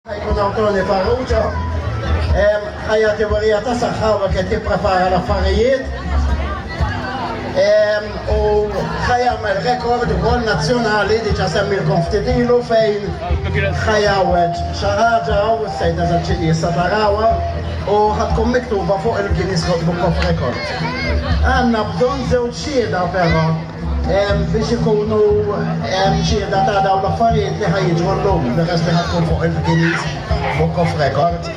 Jkun hawn Tony Farrugia, ħajja tiburija ta' saħħa u qed jipprepara l-affarijiet. U ħajamel rekord ukoll nazzjonali diġà semmilkom ftit ilu fejn ħajawweġ xi ħaġa u s-sejda tal-ċiqi issa tarawha u ħadkun miktuba fuq il-Guinness Book of Records. Għandna bżonn żewġ xhieda però. biex ikunu xieda ta' dawn l-affarijiet li ħajġu llum peress li ħatkun fuq il-Guinness Book of Record.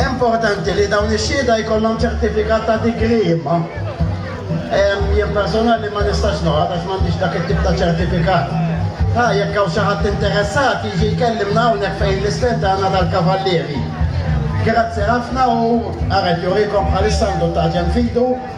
Importanti li dawn ix-xieda jkollhom ċertifikat ta' digri imma jien personali ma nistax noqgħod għax m'għandix dak it-tip ta' ċertifikat. Ha, jekk hawn xi ħadd interessat jiġi jkellimna hawnhekk fejn l-istend tagħna tal-Kavallieri. Grazzi ħafna u għaret jurikom bħalissa għandu t-taġen fidu.